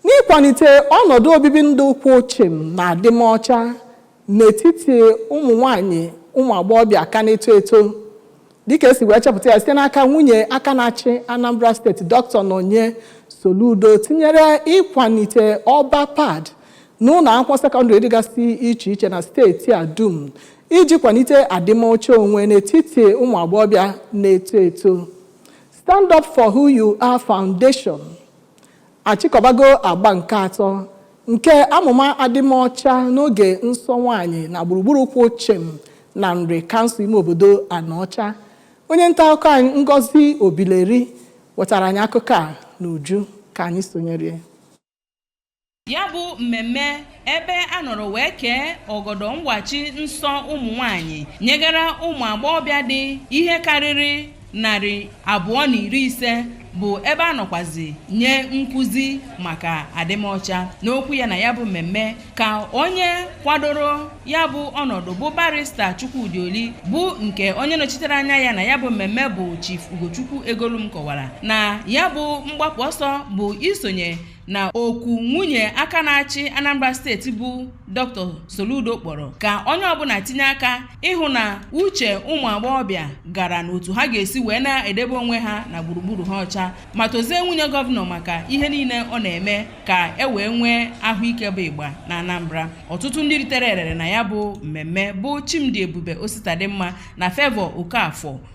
n'ịkwalite ọnọdụ obibi ndụ kwụ chịm na adịmọcha n'etiti ụmụ nwanyị ụmụ agbọghọbịa ka na-eto eto dịka e si wee chepụta ya site n'aka nwunye aka na-achị Anambra steeti Dr. Nonye Soludo tinyere ịkwalite ọba pad n'ụlọ akwụkwọ sekọndịrị dịgasị iche iche na steeti a dum iji kwalite adịmọcha onwe n'etiti ụmụ agbọghọbịa na-eto eto Stand Up for Who You Are Foundation achịkọbago agba nke atọ nke amụma adịmọcha n'oge nsọ nwaanyị na gburugburu kwụ chịm na Nri kansụl ime obodo Anaọcha onye nta akụkọ anyị Ngozi Obileri wetara anyị akụkọ a n'uju ka anyị sonyere ya bụ mmemme ebe a nọrọ wee kee ọgọdọ nwachi nsọ ụmụ nwanyị nyegara ụmụ agbọghọbịa dị ihe karịrị narị abụọ na iri ise bụ ebe a nọkwazi nye nkụzi maka adịmọcha n'okwu ya na ya bụ mmemme ka onye kwadoro ya bụ ọnọdụ bụ barista Chukwudi Oli bụ nke onye nọchitere anya ya na ya bụ mmemme bụ Chief Ugochukwu Egolum kọwara na ya bụ mgbapụ ọsọ bụ isonye na oku nwunye aka na-achị Anambra steeti bụ Dr. Soludo kpọrọ ka onye ọbụla tinye aka ịhụ na uche ụmụ agbọghọbịa gara n'otu ha ga-esi wee na-edebe onwe ha na gburugburu ha ọcha ma tozie nwunye gọvanọ maka ihe niile ọ na-eme ka e wee nwee ahụike bụ ịgba na Anambra ọtụtụ ndị ritere erere na ya bụ mmemme bụ Chimdiebube Ositadimma na Favour Okafor